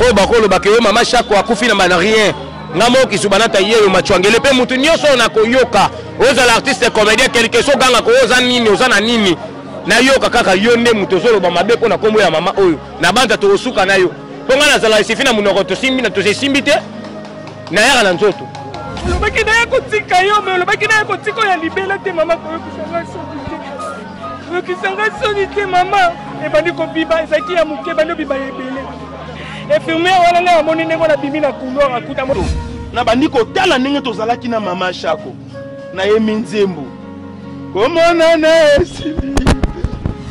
oyo bakolobaka yo mama shako akufi na bana rien nga moko kisubanata yeyo machwangele mpe motu nyonso oyo nakoyoka ozala artiste comédien quelque so ogangaka oyo oza nini oza na nini nayoka kaka yo nde moto ozoloba mabe mpo na nkombo ya mama oyo na banza tokosuka na yo mpo ngai nazala esifi na monoko tosimbi na tosesimbi te nayaka na nzoto olobaki naya kotika yo me olobaki naya kotika oyo ya libela te mama koyokisa ngai soki te koyokisa ngai soni te mama ebandi kobiba ezalaki ya moke ebandi obiba ya ebele infirmiere wana ngai amoni ndenge wana bimi na couloir akuta nabandi kotala ndenge tozalaki na mama shako nayemi nzembo komonana esili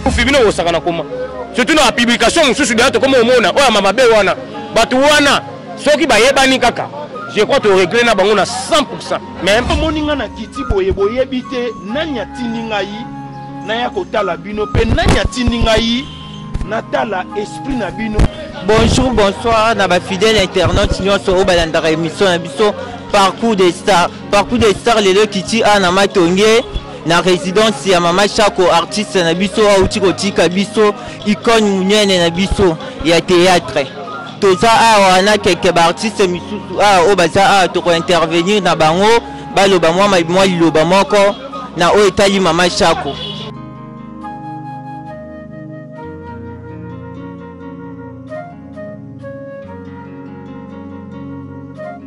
kufi bino bosaka na koma surtout na publication mosusu deya tokoma omona oyo ama mabe wana bato wana soki bayebani kaka je crois toregle na bango na 100 pourcent mais omoni nga na kiti boye boyebi te nani atindi ngai naya kotala bino mpe nani atindi ngai natala esprit na bino bonjour bonsoir na bafidèle internaute nyonso oyo balandaka émission na biso parcours des stars Parcours de star lelo ekiti a na matonge na résidence ya mama chako artiste na biso auti kotika biso icone monene na biso ya théâtre toza awa na keke baartiste misusu awa oyo baza awa tokointervenir na bango baloba mwa mwa liloba moko na oyo etali mama chako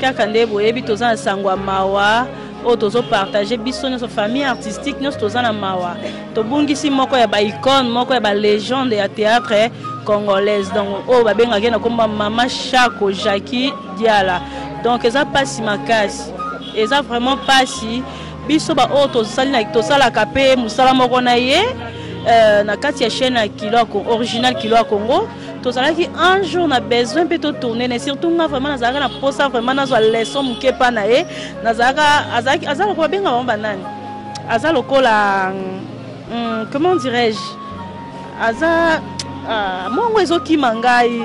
kaka nde boyebi toza na sango ya mawa oyo tozopartage biso nyonso famille artistique nyonso toza na mawa tobungisi moko ya baicone moko ya balegende ya théâtre congolaise donc oyo babengaki ye na komba mama shako jacqui diala donc eza mpasi makasi eza vraiment mpasi biso baoyo tosalaka mpe mosala moko na ye euh, na kati ya chaîne ya kilo original kilo ya congo tozalaki un jour na besoin mpe totourne ne surtout nga vraiment nazalaka na mposa vraiment nazwa leçon moke mpa na ye nazalaka azalaki aza lokola babenga bango banani aza lokola hmm, comment dirais-je aza ah, mongo ezokima ngai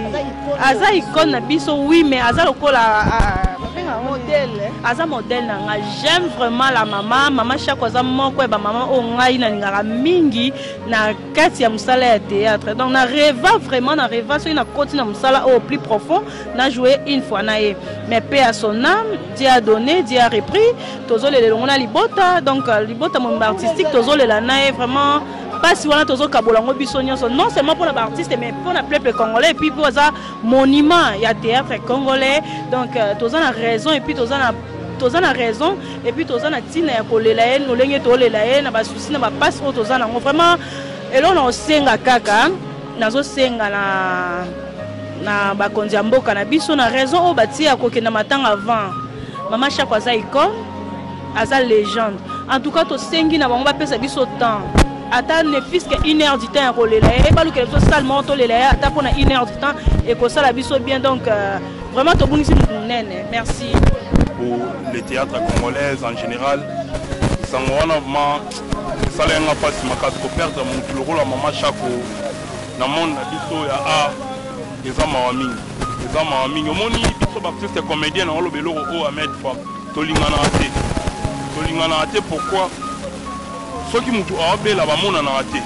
aza icone na biso oui mais aza lokola ah, modèle aza modèle na ngai j'aime vraiment la mama mama shako aza moko ya bamama oyo ngai nalingaka mingi na kati ya mosala ya théâtre donc na reva vraiment na reva soki nakoti na mosala oyo plus profond na joue une fois na ye mais pe à son âme dieu a donné dieu a repris tozolela elongo na libota donc euh, libota momba artistique tozolela na ye vraiment mpasi wana tozokabola yango biso nyonso non seulement mpo na baartiste mais mpo na peuple congolais epuis mpo aza monument ya théâtre congolais donc euh, toza na raison epuis toza na toza na raison et puis toza na tina ya kolela ye lolenge tolela ye na basusi na bapasi oyo toza nango vraiment eloko na kosenga kaka nazosenga na na bakonzi ya mboka na biso na raison oyo batie ya kokenda matanga avant mama shako aza icone aza legende en tout cas tosengi na bango bapesa biso temps ata ne fiske une heure du temps ya kolela ye balukela biso sale moko tolela ye ata mpona une heure du temps ekosala biso bien donc euh, Vraiment tobungisi moto monene. Merci. Pour le théâtre congolais en général, sango wana vraiment esala yanga mpasi makasi ko perdre moto lokola mama Shako na monde na biso ya art eza mawa mingi, eza mawa mingi. Omoni biso b'artiste comédien na oloba eloko oyo Ahmed Fam tolinganaka te, tolinganaka te pourquoi? Soki moto aobela bamonanaka te,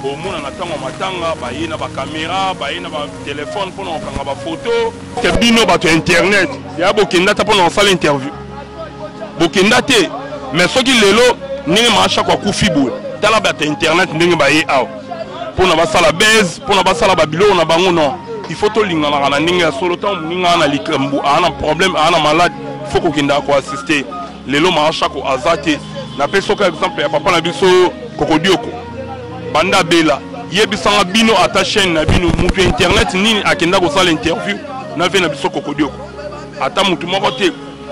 omonana ntango ya matanga baye na bakamera baye na ba Telephone pona kokanga ba photo. Te bino bato ya internet ya bokenda ata pona kosala interview. Bokenda te. Mais soki lelo ndenge maasha kwa kufi boye tala bato ya internet ndenge baye awa pona basala base pona basala ba biloko na bango non. Il faut tolinganaka na ndenge ya solo ntango moninga aa na likambo aa na problème aa na malade il faut kokendaka ko assister lelo maashako aza te napesi oka exemple ya papa na biso kokodioko banda bela yebisanga bino ata chaîne na bino moto ya internet nini akenda kosala interview na vie na biso kokodioko ata moto moko te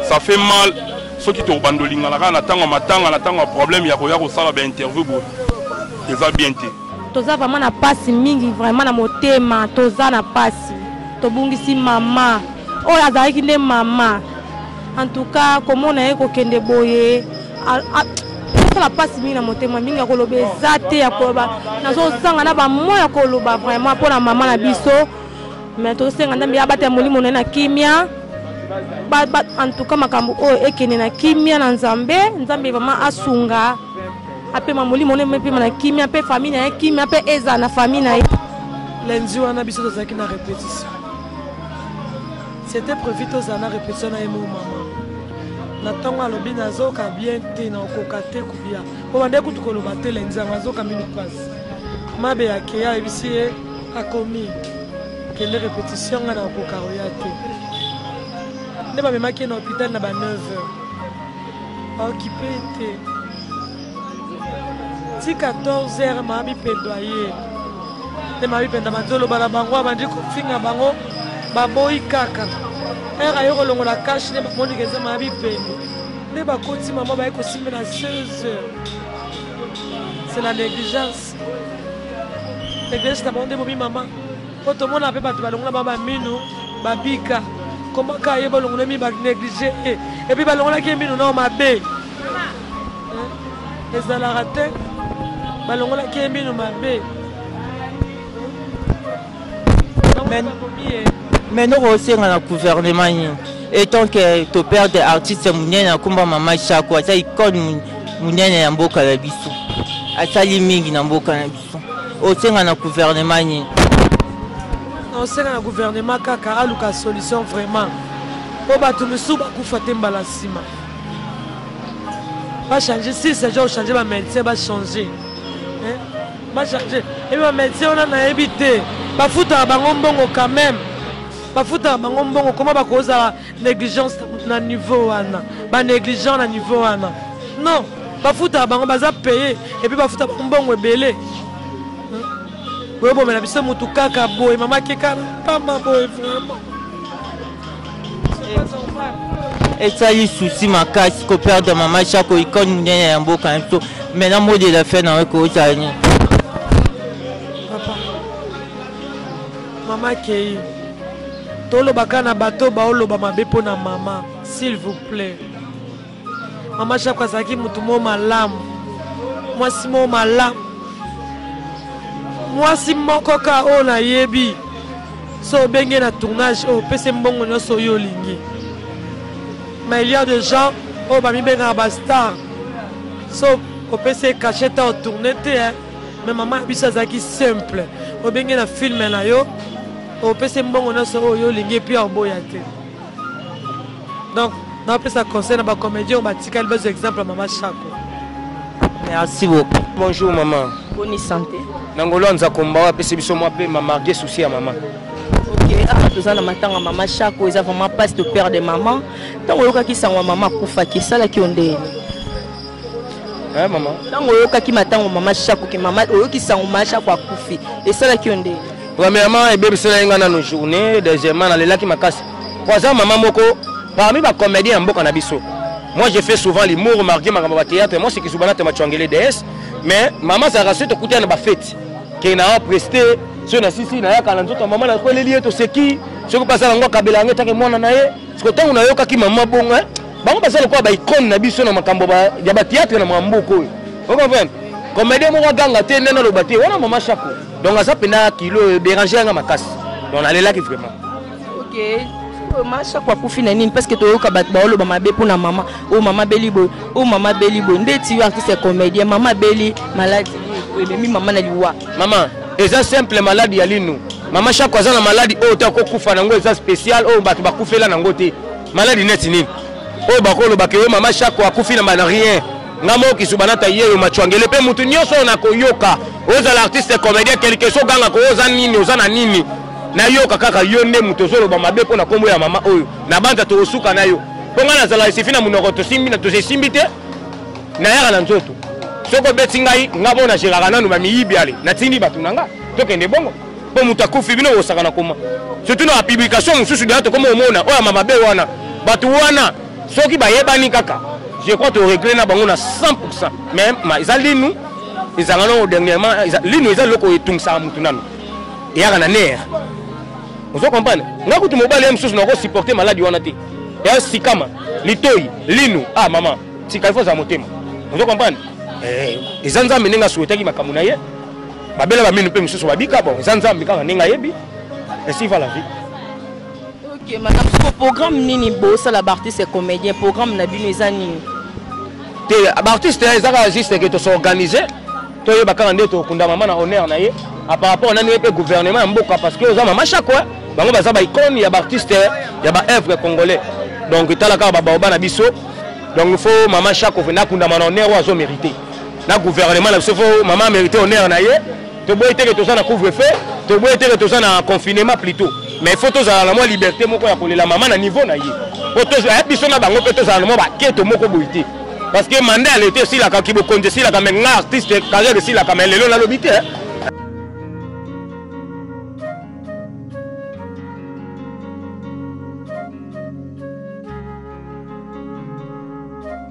ça fait mal soki tokobanda olingana kaka na ntango ya matanga na ntango ya problème ya koya kosala bainterview boye eza bien te toza vraiment na mpasi mingi vraiment na motema toza na mpasi tobungisi mama oyo azalaki nde mama En tout cas komona ye kokende boye asala mpasi mingi na motema mingi ya koloba eza te ya koloba nazozanga na bamo ya koloba vraiment mpo na mama na biso mais tozosenga ndambi abatela molimo na ye na kimia en tout cas makambo oyo ekende na kimia na nzambe nzambe vraiment asunga apema molimo na epema na kimia mpe famille na ye kimia mpe ezala na famille na ye lundi wana biso tozalaki na repetition C'etait prevu tozala na repetition na ye mo mama na ntongo alobi nazoka bien te na okoka te kobia obande kutu koloba te lenzango azoka mino mpasi mabe ya keya ayebisi ye akomi kende repetition ngai na okoka oya te nde bamemaki ye na hôpital na ba 9 heures aokipe te ti 14 heure maa bipendo aye nde maa bipendo abandi oloba na bango abandi kofinga bango baboyi kaka heure aye kolongola kashe nde bamonike eza maa bipendo nde bakoti mama baye kosimba na 16 heures c'est la négligence négligence na bango nde bomi mama po tomona mpe bato balongola ba bamino babika komaka ye balongolami banéglige ye epuis balongolaki ye mino nao mabe ezalaka te balongolaki ye mino mabe mais noko osenga na gouvernement nini etant ke toperde artiste monene akomba mama shako aza icone monene ya mboka na biso asali mingi na mboka na biso osenga na gouvernement nini osenga na gouvernement kaka aluka solution vraiment mpo bato misusu bakufa te mbala nsima bachange si seja ochange bamédecin bachange bachange ebi bamédecin wana nayebi te bafutaka bango mbongo quand même bafutaka bango mbongo koma bakozala negligence na niveau wana ba negligent na niveau wana non bafutaka bango baza paye epuis bafuta bango mbongo ebele hmm. boyobomela biso motu kaka boye mama keka pamba boye vraiment esali susi makasi koperdre mama chako ikone monene ya mboka na biso mai na mode la fin nawe koozala nini mama kei Toloba ka na bato baoloba mabe mpo na mama s'il vous plait. Mama Jacques azalaki motu moko malamu, mwasi moko malamu, mwasi moko ka oyo nayebi so obenge na tournage oyo opesi mbongo nyonso oyo olingi mais il y a des gens oyo bamibengaka bastar so opesi ye cachet ta otourne te me mama na biso azalaki simple obenge na filme na yo opesi mbongo nyonso oyo yo olingi epuis oboya te donc napesa conseil na bacomédien oyo batikali bazwa exemple ya mama shako merci beaucoup bonjour mama boni santé na ngolo anza kombawa apesi biso mwa mpe mamarge souci ya mama awa toza na matanga mama shako eza vraiment passe de père de maman ntango oyokaki sango ya mama akufaki esalaki yo ndeni Eh, mama ntango oyokaki matango mama shako ke mama oyoki sango mama shako akufi esalaki yo ndenge premièrement ebebiselaki ngai nano journée deuxièmement nalelaki makasi po aza mama moko parmi bacomédien ya mboka na biso moi je fais souvent limour marge makambo bathéâtre moi sekizubana te machwangele ds mais mama azalaka soki tokutana na bafeti ke naa preste soki nasisi nayaka na nzoto ya mama nakweleli ye toseki soki mpe aza nango akabela yango etake mwana na ye siko ntango nayokaki mama bongo bango baza lokola ba icone na biso na makambo ya ba théâtre na makambo mboka oyo okomprendre comédien moko aganga te nde naloba te wana mama shako donc aza mpenza kilo oyo dérange yanga makasi donc nalelaki vraiment okay. mama shako akufi na nini parceke toyoka bato baoloba mabe mpo na mama oyo oh, mama beli boye oyo oh, mama beli boye nde ti yo artiste ya comédien mama beli maladi ememi mama na liwa mama eza simple maladi ya linu mama shako aza na maladi oyo te akokufa na yango eza spécial oyo bato bakufela na yango te Maladi neti nini? Oyo bakolo bakeyo mama Shako akufi na bana rien. Nga moko kisuba nata yeyo machwangele pe mutu nyoso na koyoka. Ozala artiste comédien quelque chose ganga ko oza nini oza na nini? Na yoka kaka yo nde mutu ozoloba mabe mpo na kombo ya mama oyo. Na banza tokosuka na yo. Mpo nga nazala esifi na munoko tosimbi na tosesimbi te. Na yaka na nzoto. Soko beti ngai nga mona jeraka nanu ba miyibi ale. Natindi batu na nga. Tokende bongo. mpo moto akufi bino bosaka na koma surtout na bapublication mosusu deya tokoma omona oyo ama mabe wana bato wana soki bayebani kaka je crois toregle na bango na 100 pourcent mais eza linu ezanga nao dernièrement linu eza eloko etungisaka motu nano eyaka na nere ozo comprendre nga kutu mobali ye mosusu nakosupporte maladi wana te ya sikama litoi linu ah mama tika ifo ozala motema ozo comprendre eh, eza nzambe ndenge asuetaki makambo na ye babela baminu mpe mosusu babika bon eza nzambe kaka ndenge ayebi esi va la vie ok madame soko programme nini bosala baartiste comédien programme na bino eza nini te baartiste eza kaka juste ke tosorganise toyeba kaka nde tokunda mama na honneur na ye par rapport nani ye mpe gouvernement ya mboka parce que oza mama chako bango baza baicone ya baartiste ya baœuvre congolais donc tala kaka babaoba na biso donc il faut mama chako venda akundama na honneur oyo azo mérite na gouvernement na biso fo mama amerite honneur na ye toboyi teke toza na couvre feu toboyi teke toza na confinement plutôt mais il faut tozala na mwa liberté moko ya kolela mama na niveau na ye po eh, biso na bango mpe tozala na mwa baketo moko boyi te parce que mandat ya leta esilaka kibokonzi esilaka me nga artiste carrière esilaka me lelo nalobi te eh.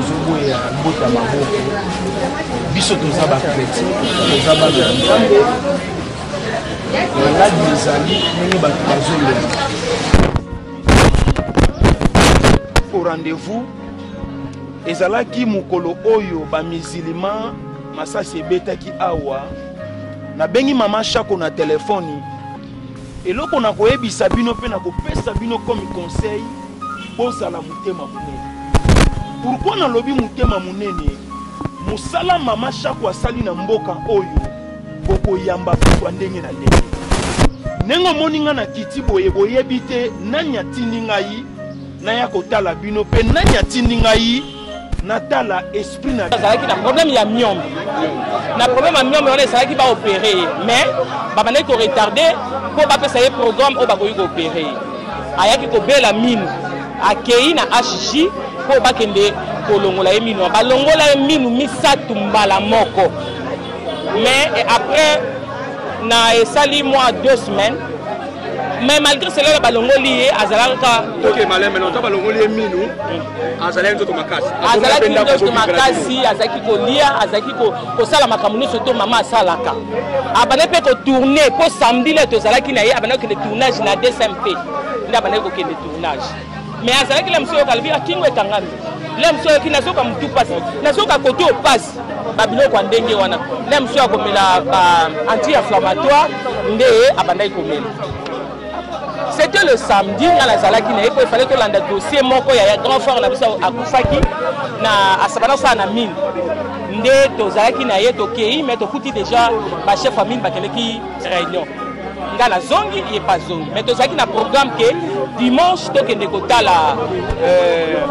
ozoboya mbota maboko biso toza bakretin toza bana ya nzambe maladi ezali ndenge bato bazolela au rendez-vous ezalaki mokolo oyo bamizilima masasi ebetaki awa nabengi mama shako na telefoni eloko na koyebisa bino mpe na kopesa bino komi conseil bozala motema monene pourkui nalobi motema monene mosala mama shako asali na mboka oyo bokoyamba bato ya ndenge na ndenge. Ndenge omoni ngai na kiti boye, boyebi te nani atindi ngai naya kotala bino mpe nani atindi ngai natala esprit na azalaki na problème ya miombe na problème ya miombe wana ezalaki baopere ye mais babandaki koretarde mpo bapesa ye programme oyo bakoki koopere ye ayaki kobela minu akei na hg mpo bakende kolongola ye minu balongola ye minu misato mbala moko mais après na esali mwa deux semaines mais malgré cela na balongoli ye azalaka azalaki nzoto makasi azalaki kolia azalaki kosala makambo nyonso to mama asalaka abandaki mpe kotourne mpo samedi le tozalaki na ye abandaki kokende tournage na dcmp nde abandaki kokende tournage mais azalaki la mosu yoka alobi akingo ekangami la mosu yoki nazoka motu mpasi nazoka koto mpasi babiloko ya ndenge wana na mosusu akomela anti inflammatoire nde abandaki komela c'était le samedi nga nazalaki na ye po efale tolanda dossier moko ya grand frère na biso akufaki na asabana osala na mine nde tozalaki na ye tokei mais tokuti déjà bachef ya mine bakendeki réunion nga nazongi ye pa zongi mais tozalaki na programme ke dimanche tokende kotala euh,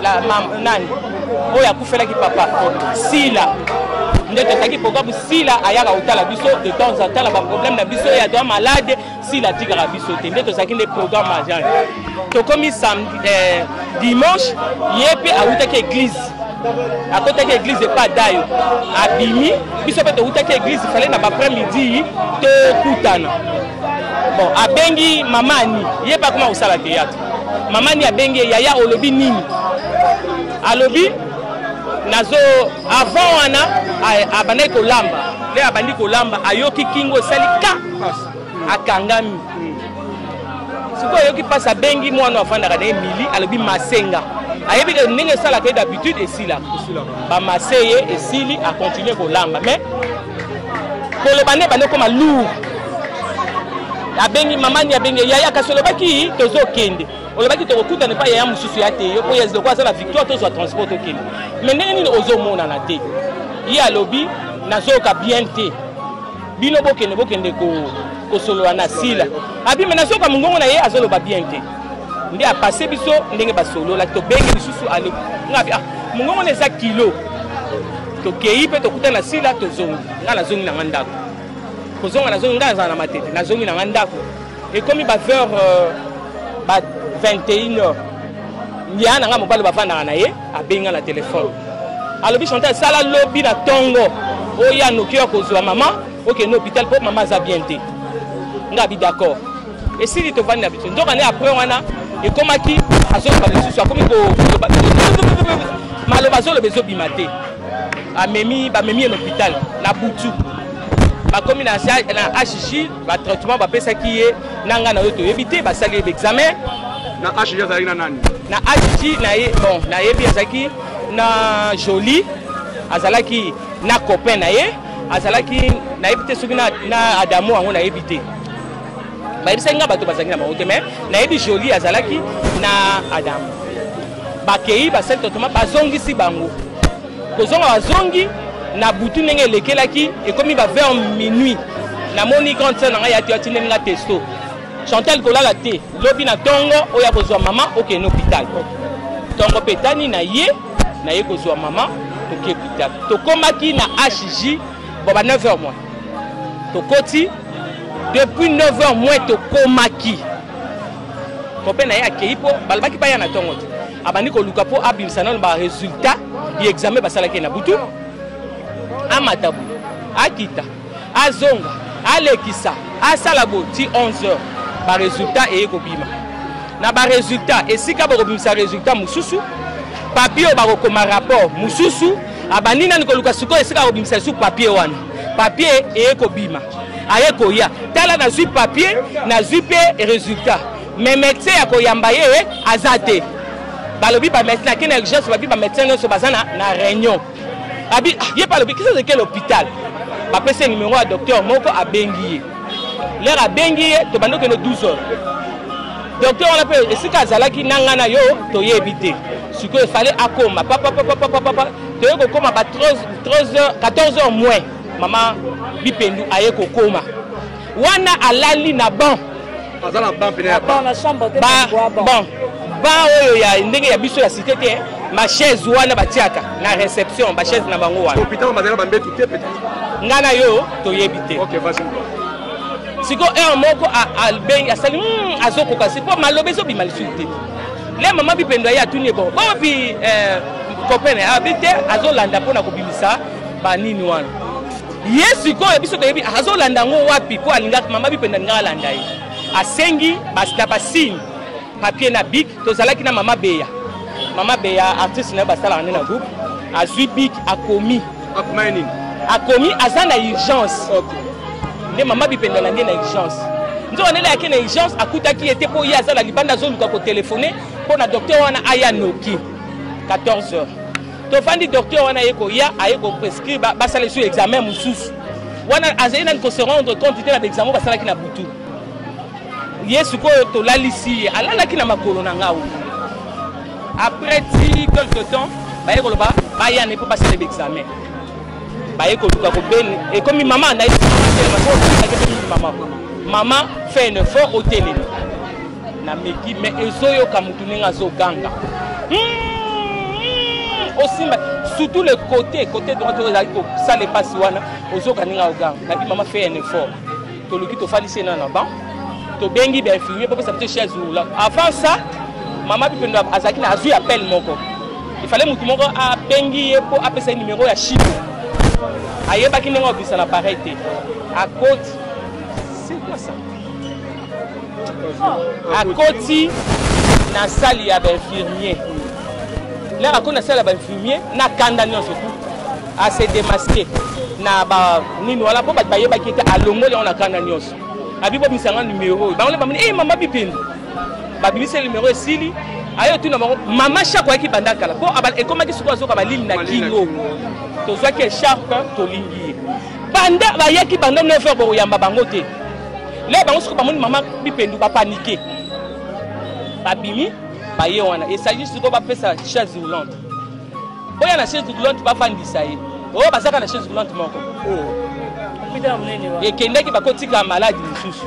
la mam nani oyo akufelaki papa sila nde tozalaki programme sila ayaka kotala biso de temps en temps na baproblème na biso ye adoa malade sila atikaka biso te nde tozalaki nde programme agent tokomi eh, dimanche ye mpe awutaki église akotaki église epa dayo abimi biso mpe towutaki église fale na baprès midi tokutana bon abengi mama ani ye mpe akoma kosala théâtre Mama ni abengi ye yaya olobi nini? Alobi nazo avant wana abandaki kolamba nde abandi kolamba ayoki kingo esali ka akangami sikoyo ayoki mpasi abengi mwana afandaka na ye mili alobi masenga ayebi ke ndenge esalaka ye d'habitude esilaka bamaseye esili akontinue kolamba mais koloba nde ebandi okoma lour abengi mama ni abenge yaya kasi olobaki tozokende olobaki tokokutana epai yaya mosusu ya te yo mpo yezi lokola aza na victoire tozwa transport tokende mai ndenge nini ozomonana te ye alobi nazoyoka bien te bino bokende bokende kosolola na sila abi mai nazoyoka mongongo na ye azoloba bien te nde apase biso ndenge basololaki tobengi lisusu alobi ngabi ah mongongo na eza kilo tokei mpe tokuta na sila tozongi ngai nazongi na ngai ndako kozonga nazongi ngai azala na matete nazongi na ngai ndako ekomi ba vers euh, ba 21 heures ya na ngai mobali bafandaka na ye abengi ngai na telefone alobi chantal sala lobi na ntongo oya noki ya kozwa mama okende hôpital mpo mama aza bien te ngai abi d'accord esili tovandi na biso nzoka nde après wana ekomaki azoloba lisusu akomi koloba maloba azoloba ezobima te amemi bamemi ye na hôpital na butu bakomi na hg batraitement bapesaki ye na ngai na yo toyebi te basali ye baexamen na hg azalaki na nani na hg bon nayebi azalaki na jolie azalaki na copain na ye azalaki nayebi te soki na adamo yango nayebi te bayebisaki nga bato bazalaki na bango te mai nayebi jolie azalaki na adam bakei basali totoma bazongisi bango kozonga bazongi na butu ndenge elekelaki ekomi ba vers minuit namoni grande sœur na ngai yati atindeli nga testo chantal kolala te lobi na ntongo oyo akozwa mama okende hôpital ntongo mpe etani na ye naye kozwa mama toke hôpital tokomaki na hj bo ba 9 heures moins tokoti depuis 9 heures moins tokomaki kope na ye akei mpo balobaki baya na ntongo te abandi koluka mpo abimisa nano baresultat ya examen basalaki na butu amata boye akita azonga alekisa asala boye ti 11 heures baresultat eye kobima na baresultat esika bakobimisa resultat mosusu papie oyo bakokoma rapport mosusu abandi nani koluka sikoyo esika akobimisa lisusu papier wana papier eye kobima aye koya tala nazwi papier nazwi mpe résultat mais médecin ya koyamba ye eh, aza te balobi bamédecin akei na urgence babi bamédecin nyonso baza na, na réunion abi ah, ye mpe alobi kisa ezeki l'hôpital bapesi ye numero ya docteur moko abengi ye lere abengi ye tobandi okende 12 heures docteur wana mpe esika azalaki na ngai na yo toyebi te sikoyo efale akoma papapapapapapa toye kokoma ba 14 heures moins mama bipendu aye kokoma wana alali na banc aza na ban pene ya ban na chambre te ba bon ba oyo ya ndenge ya biso ya cité te ba chaise wana batiaka na réception ba chaise na bango wana hôpital bazalaka ba mbetu te peut-être nga na yo toyebi te okay vas-y siko heure moko abengi asali hmm, azokoka si mpo maloba ezobima lisusu te le mama bipendo aye atuni ye bon bopi eh, copene abi te azolanda mpo na kobimisa banini wana ye sikoyo biso toyebi azolanda yango wapi mpo alingaka mama bipende alingaka alanda ye asengi na basigne papier na bik tozalaki na mama beya mama beya artiste na ye basalaka nde na groupe azwi bik akomi akomi aza na urgence nde mama bipende alandi na urgence nzoka ndele yake na urgence akutaki ye te mpo ye aza na libanda azoluka kotelefone mpo na docteur wana aya noki 14 heures tofandi docteur wana aye koya aye koprescrire basala lisu examen mosusu wana azali nani ko se rendre compte te na baexamen basalaki na butu ye sikoyo tolalisi ye alalaki na makolo na ngai après ti quelque temps baye koloba baya ne mpo basala baexamen baye koluka kobeni ekomi mama nayebi mama mama fait un effort otelemi nameki me ezoyoka motu ndenge azoganga hmm, hmm, osimba surtout le côté côté droite oyo ezali kosala epasi wana ozoka ndenge azoganga nabi mama fait un effort toluki tofandisi ena na ban tobengi bainfirmier bopesa biso chaise roula avant ça mama bipendo azalaki na azwi appel moko ifale motu moko abengi ye mpo apesa ye numero ya chine ayebaki ndenge obisa na pareil te akoti c'est quoi ça akoti na sali ya bainfirmier lere akoti na sali ya bainfirmier na kanda nyonso tu ase demaske na banini wana mpo bato bayebaki ete alongoli yango na kanda nyonso abibomisa nga numero oyo bango nde bamoni e eh, mama bipendu babimisi numero esili ayo tuna bango mama shako ayaki banda kala mpo ekomaki sikoyo azoka balini na kingo tozwaki esharpe tolingi ye banda bayaki banda 9 heure bokoyamba bango te leo bango siko bamoni mama bipendu bapanike babimi baye wana esali siko bapesa chaise roulante boya na chaise roulante bafandisa ye oyo bazaka na chaise roulante moko ekendaki bakotika maladi mosusu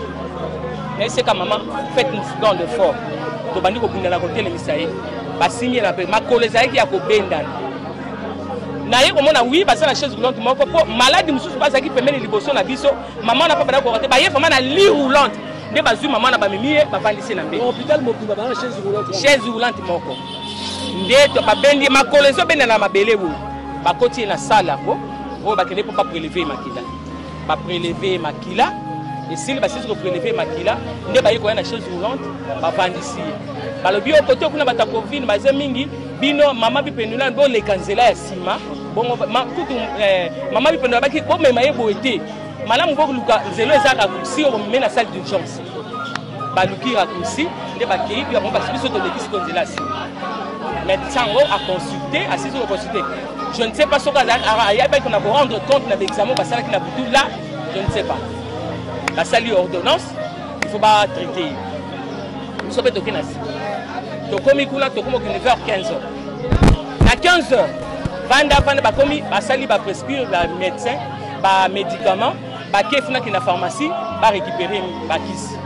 naeseka mama fete don de fort tobandi kobundana kotelemisa ye basimbi ye na mpe makolo ezalaki ya kobendana naye komona wi baza na chaise roulante moko mpo maladi mosusu bazalaki pembeni liboso na biso Maman na papa na kokate ba ye vraiment na lit roulante nde bazui maman na bamemi ye bavandisi na mbe. Hôpital mobimba ba chaise roulante. Chaise roulante moko. Nde to babendi makolo ezo benda na mabele wo. Bakoti na salle yango oyo bakende mpo ba prélever makila. Ba prélever makila esili basisi kopreleve makila nde baye koya na chaise roulante bavandisi ye balobi yo kote kuna bato ya covid baza mingi bino mama bipenulani boleka nzela ya nsima bongo kutu eh, mama bipendo abaki bomema ye boye te malamu boluka nzelo eza raccourci oyo bomeme na salle d'urgence baluki raccourci nde bakei mpe bango basi biso tolekisi ko nzela nsima médecin yango aconsulte asisi koconsulte je ne sais pas soki ayabaki na korendre compte na baexamen basalaki na butu la je ne sais pas basali ordonnance il faut batraite ye biso mpe toke na nsima tokomi kuna tokomi okende vers 15 heures na 15 heures vanda vanda bakomi basali ba prescrire ba médecin ba médicament bake funa kenda pharmacie ba récupérer bakisi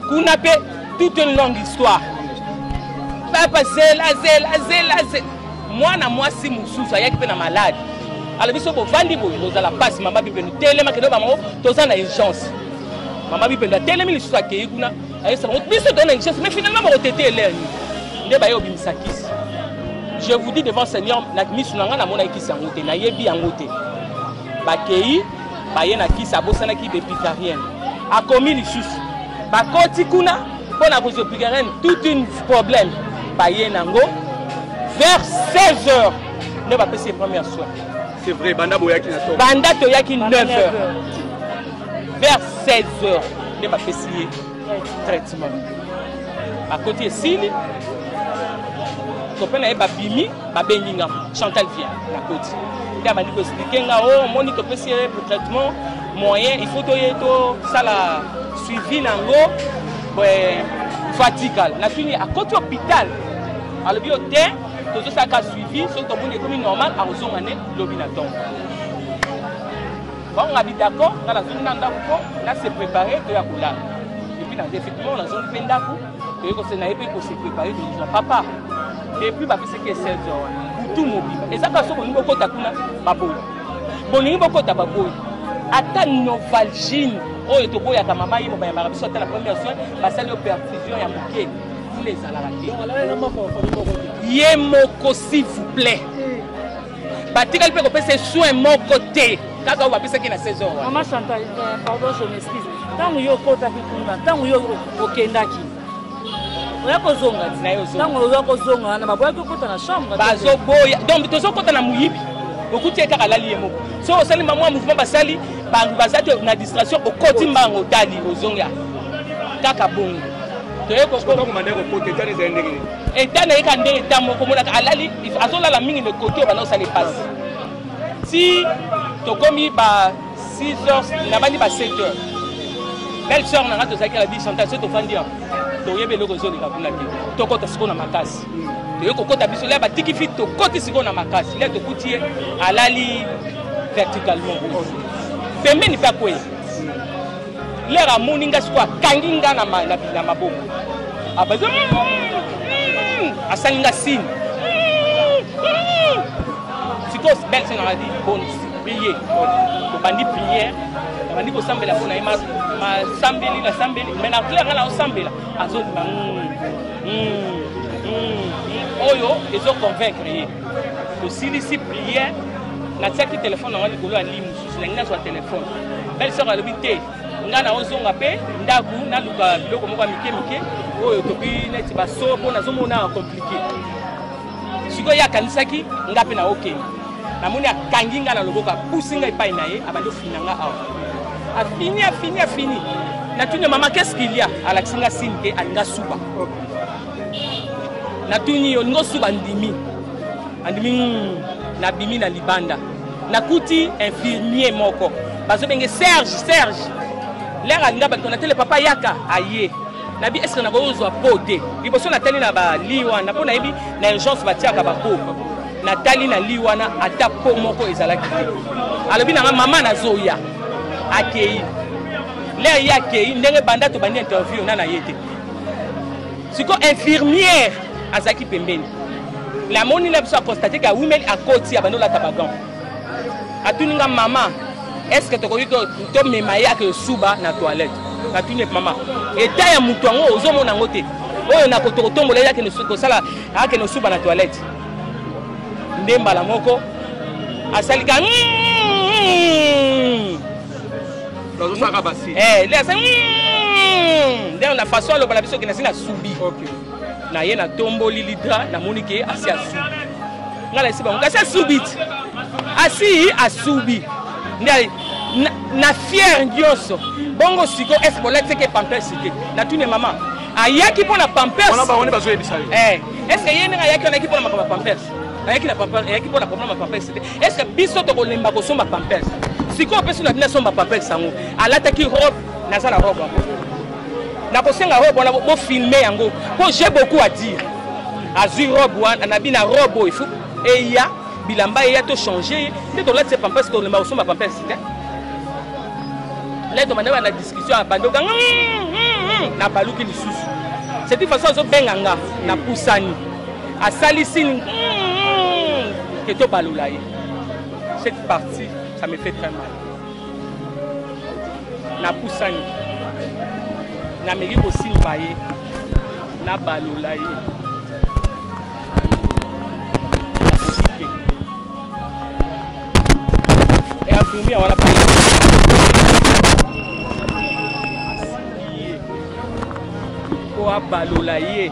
kuna pe toute une longue histoire papa zela zela zela zela mwana mwasi mosusu ayaki mpe na malade alobi so bovandi boye bozala mpasi mama bipenu telema kende bango toza na urgence mama bipenu atelemi lisusu akei kuna ayesa bango biso toza na richesse mais finalement bakotete elere nini nde baye obimisa kisi je vous dis devant seigneur na miso na ngai namonaki kisi yango te nayebi yango te bakei baye na kisi abosanaki bepitarienne akomi lisusu bakoti kuna mpo na kozwa epitarienne toute une problème baye nango vers 16 heures nde bapesi ye première soin banda toyaki 9 heures vers 16 heures nde bapesi ye traitement bakoti esili topela ye babimi babengi nga chantal vien nakoti nde abandi koexplike nga o oh, omoni topesi ye traitement moyen il faut toye tosala suivi na yango faut atikala natuni akoti hôpital alobi yo te tozosalaka suivi soki tomoni ekomi normal akozonga nde lobi na ntongo Bango nga bi d'accord, nga nazongi na ndako po na se préparer to ya kolala. Et puis na effectivement nazongi pe ndako, to yeko se na ye pe ko se préparer to yeko papa. Et puis ba pese ke 16 heures. Butu mobimba. Eza ka soko ningo kota kuna baboyi. Bolingi bokota baboyi. Ata Novalgine oyo toboyaka mama ye bobayambaka biso ata na première soin basali yo perfusion ya moke fule ezalaka te ye moko s'il vous plaît batikali mpe kopesa ye soin moko te kaka oyo bapesaki na saison wana mama chantal euh, pardon je m'excuse ntango yo okotaki kuna ntango yo okendaki oya kozonga ntango oya kozonga wana baboyaki okota na chambre bazoboya donc tozokota na moyibi okuti ye kaka alali ye moko so osali mamwa mouvement basali bango baza te na distraction okoti mbango otali ozonga kaka bongo toye kokoma eta na ye ka nde eta moko omonaka alali azolala mingi na ekoki oyo banda kosala epasi ti tokomi ba 6 heures nabandi ba 7 heures belle sœur na nga tozalaki na bi chantage so tofandi yango toyebi eloko ezoleka kuna te tokota sikoyo na makasi toye kokota biso lia batiki fi tokoti sikoyo na makasi lia tokuti ye alali verticalement pembeni mpe akwei lere amoni nga sikoyo akangi nga na maboko abaza ah, hmm, hmm, hmm. asali nga sini sikoyo belle se nanga di bon priye tobandi priere nabandi kosambela mpo na ye masambeli nasambeli mai na claire nga naosambela azondima oyo ezoconvaincre ye tosilisi priere natiaki telefone yango likolo ya lii mosusu nangi nazwa telefone belle sœur alobi te ngai naozonga mpe ndako naluka biloko moko ya mike mike oyo toki neti baso mpo nazomona komplike sikoyo ye akanisaki ngai mpe naokende namoni akangi ngai na loboko apusi ngai epai na ye abandi ofina ngai awa afini afini afini natuni mama keskilia alakisi ngai sini te alinga suba natuni yo olingi osuka ndimi andimi hmm, nabimi na libanda nakuti infirmier moko bazobenge serge serge lere alinga bato natele papa yaka aye nabi eske nakoki kozwa po te liboso natali na bali wana mpo nayebi na urgence batiaka bapo natali na li wana ata po moko ezalaki te alobi nanga mama nazoya akei lere ye akei ndenge banda tobandi interview na na ye te siko infirmière azalaki pembeni lamoni na biso aconstate ke awumeli akoti abandi olata bagan atuni nga mama estce tokoki tomema ye ake osuba na toilette atuni mama eta ya moto yango ozomona yango te oyo nakotokotombola ye akende kosala akende osuba na toilette nde mbala moko asalika mm, mm, mm, bazosaka basi eh le asali hmm, nde na façon aloba na biso ke nasi na subi na ye na tomboli lidra namoni ke asi asubi ngai nayesi bango kasi asubi ti asi asubi nde na fiere nyonso bongo siko ese bolati seke pampers te natuni ya mama ayaki mpo na pampers ese eh, ye ndenge ayaki wana ayaki mpo na makambo ya pampers ayaki na papa ayaki mpo na problème ya papa ese te est ce que biso tokolemba kosomba pampers sikoyo opesi na bino asomba pampers yango alataki robe naza na robe yango nakosenga robe wana bofilme yango mpo j'ai beaucoup à dire azwi robe wana na bino robe oyo ifu eya bilamba eya tochange ye nde tolatisa pampers tolemba kosomba pampers te leto manda bana discussion abandi okanga hmm, hmm, hmm. nabaluki lisusu c'est une façon azobenga nga napusani asalisi ke tobalola ye cette partie ça me fait très mal napusani nameki kosimba ye nabalola ye eafumia wana po abalola ye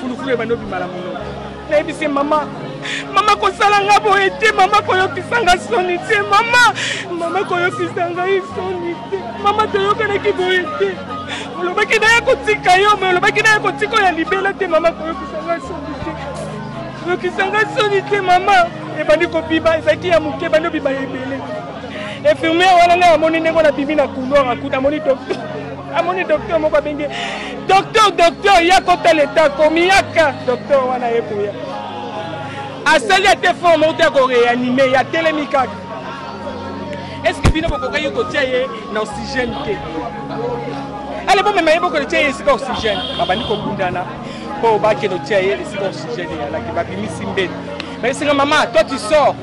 fulufulu ebandi obima na mono nayebisi mama mama kosala nga boye te mama koyokisa nga soni te mama mama koyokisa ngai soni te mama toyokanaki boye te olobaki naya kotika yo me olobaki naya kotika oyo ya libela te mama koyokisa nga soni te koyokisa nga soni te mama ebandi kobiba ezalaki ya moke ebandi obiba ya ebele infirmiere wana ngai amoni ndenge na bimi na couloir akuta amoni docteur amoni docteur moko abenge Docteur, docteur, ya kota leta komi yaka docteur wana ye koya asali ate forme ote ya koreanime ya telemi kaka eske bino bokokaki kotia ye na oxygène te ale bomema ye bokoletia ye esika oxygène babandi kobundana mpo bakende otia ye esika oxygène eyalaki babimisi mbeli bayesinga mama toi tu sors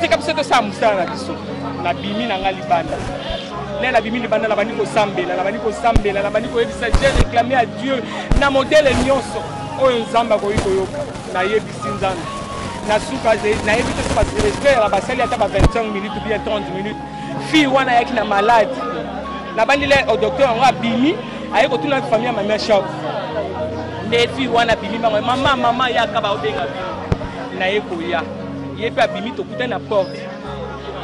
tika biso tosala mosala na biso nabimi na ngai libanda ngai nabimi libanda nabandi kosambela nabandi kosambela nabandi koyebisa je réclame à dieu na modele nyonso oyo nzambe akoki koyoka nayebisi nzambe na suka nayebi te soki respect ya basali ata ba 25 minutes ou bien 30 minutes fille wana ayaki na malade nabandeli o docteur yango abimi aye kotuna famille ya mamia shop nde fille wana abimi bango mama mama yaka baobenga bino naye koya ye mpe abimi tokutani na porte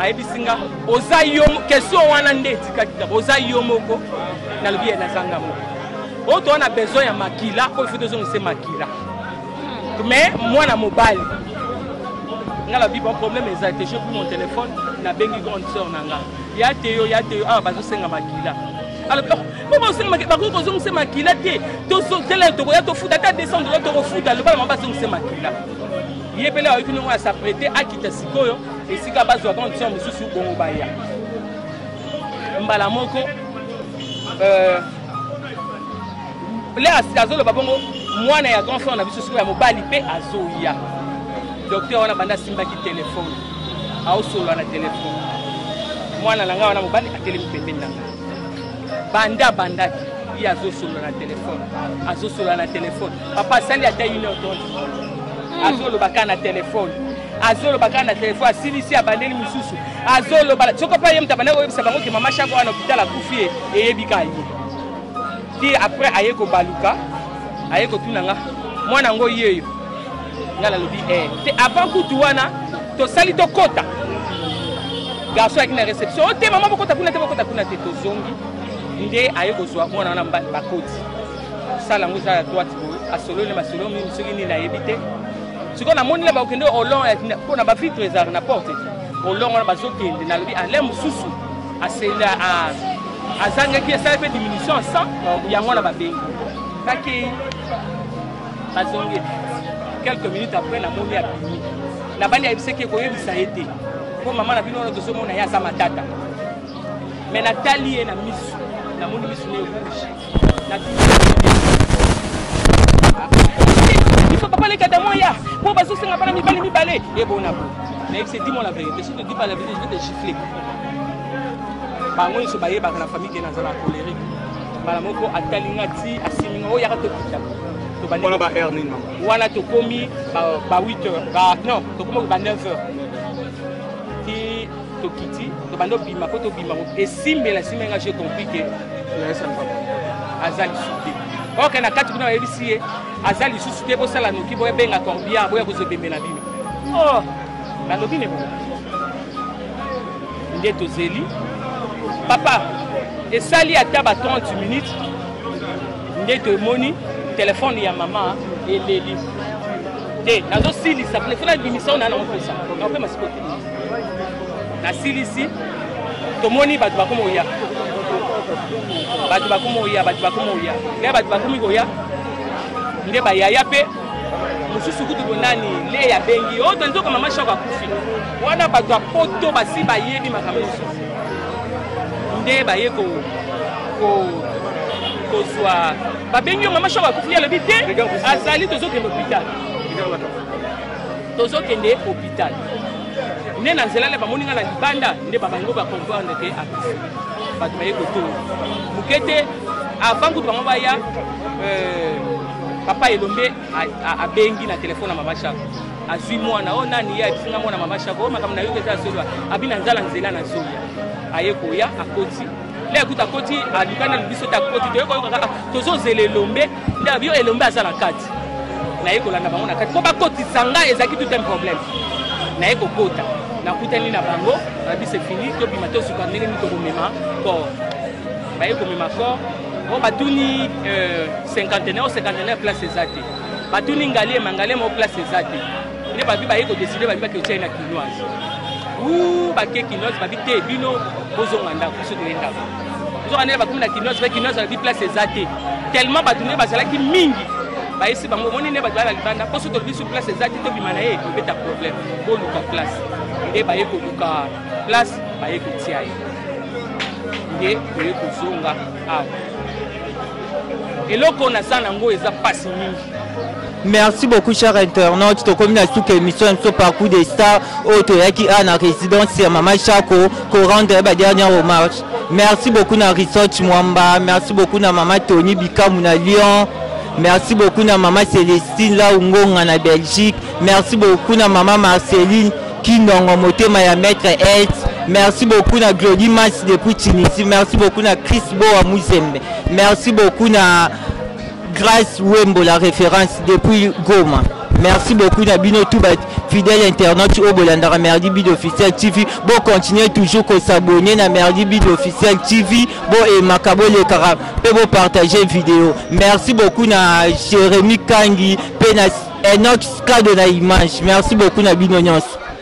ayebisi nga oza yo question wana nde etikaki kaka oza yo moko nalobi ye naza nga moko oyo toza na besoin ya makila oyo fo tozongise makila mais mwana mobali nga lobi bon problème eza te je pris mon téléphone nabengi grande sœur na nga ya te yo ya te yo awa bazosenga makila alobi mpo bazosenga makila bakoki kozongisa makila te tozotela tokoya tofuta ata 200 dola tokofuta loba na bango bazongisa makila ye mpele ayoki ndongo ya saprete akita sikoyo esika bazwa condition mosusu bongo baya mbala moko euh, lea azoloba bongo mwana ya grand frère na biso sikoyo ya mobali mpe azoya docteur wana banda asimbaki telefone aosolola na telefone mwana na ngai wana mobali atelemi pembeni na ngai banda abandaki ye azosolola na telefone azosolola na telefone papa asali ata une heure tonde hmm. azoloba kaka na telefone azoloba kaka na telefone asilisi abandeli mosusu azoloba soki mpe ye moto abandaki koyebisa bango ke mama shako wana hopital akufi ye eyebi ka ye ti après aye kobaluka aye kotuna nga mwana yango yeyo nga nalobi e eh. te avant kutu wana tosali tokota garçon ayaki na réception o te mama bokota kuna te bokota kuna te tozongi nde aye kozwa mwana wana bakoti sala yango eza ya droite boye asololi na masolo mingi soki nini nayebi te sikoyo namoni na bakokende olongo mpo na bavitre ezalaka na porte te olongo na bazokende nalobi ale mosusu asenda azangaki esali mpe diminution ya 100 yango wana babengi bakei bazongi quelques minutes après namoni abimi nabandi ayebisaki ekoyebisa ye te mpo mama na bino wana tozomona ye aza matata me natali ye na misu namoni misu na ye rouge biso papa leka damoya po bazosenga bana mibali mibale ebona bo nayebisi dis moi la vérité si te dis pas la vérité je vais te gifler bango nyonso bayebaka na famille ke nazala colérique mbala moko atali nga ti asimi nga oyaka tokita wana ba heure nini wana tokomi ba 8 heures ba non tokomi ba 9 heures ti tokiti tobanda obima mpo tobima esimbela esimbe nga je compris ke aza lisusu te oke na kati kuna bayebisi ye aza lisusu te bosala noki boyabenga corbia boya kozwa ebembe na bino oh, nalobi ne nde tozeli papa esali ata ba 30 minutes nde tomoni telefone ya mama eleli te nazosilisa telefone abimisa ona na mopesa nakopema sikote nasilisi tomoni bato bakoma oya bato bakoma oya bato bakoma oya nde bato bakomi koya nde bayaya mpe mosusu kutu bonani le ya bengi oyo oh, tonzoka mama shoko akufi wana bato ya poto basi bayebi makambo nyonso nde baye ko kozwa babengi yo mama shoko akufi alobi te azali tozokende hôpital tozokende hopital nde na nzela na bamoni ngai na libanda nde babango bacomprendre ke akufi bato baye kotonga moke te avant kutu bango baya euh, papa elombe abengi na telefone ya mama shako azwi mwana oyo oh, nani ye ayebisinga mwana mama shako oyo oh, makambo na yoki eza asolwa abi na nzala nzela na zoya aye koya akoti le akuti akoti alukani na libiso te akoti toyekoyokaka tozozela elombe Dab yo elombe aza na kati naye kolanda bango na kati mpo bakotisa ngai ezalaki tout un problème naye kokota nakutani na bango babi se fini tobima tosuka ndenge nini tokomema kor baye komema kor o batuni euh, cinquantenaire o cinquantenaire place eza te batuni ngaliema ngaliema o place eza te nde babi baye kodeside babi baketyai na kinoise u bake kinoise babi te bino bozonga ndako biso toye ndako nzoka ndenge bakomi na kinoise mpe kinoise alobi place eza te tellement bato nde bazalaki mingi bayesi bango omoni nde bato baya na libanda mpo soki tolobi su place eza te tobima na ye tobeta problème boluka place nde baye koluka place baye kotia ye nde toye kozonga awa eloko naza nango eza mpasi mingi Merci beaucoup, cher internaute. Tokomi na suka émission biso parcours des stars oyo toyaki a na résidence ya mama Chako ko rendre ba dernière hommage. Merci beaucoup na Research Mwamba, merci beaucoup na mama Tony Bikamu na Lyon. Merci beaucoup na mama Celestine la Ungonga na Belgique. Merci beaucoup na mama Marceline Kinongo motema ya maître Ed. Merci beaucoup na Glody Mas depuis Tunisie. Merci beaucoup na Chris Boa Muzembe. Merci beaucoup na Grace Wembo la référence depuis Goma. Merci beaucoup na bino tout ba fidèle internaute oyo bolandaka Merdi Bid Officiel TV. Bo continuer toujours ko s'abonner na Merdi Bid Officiel TV. Bo emaka bo lekaka pe bo partager vidéo. Merci beaucoup na Jérémy Kangi pe na Enoch Kado na image. Merci beaucoup na bino nyonso.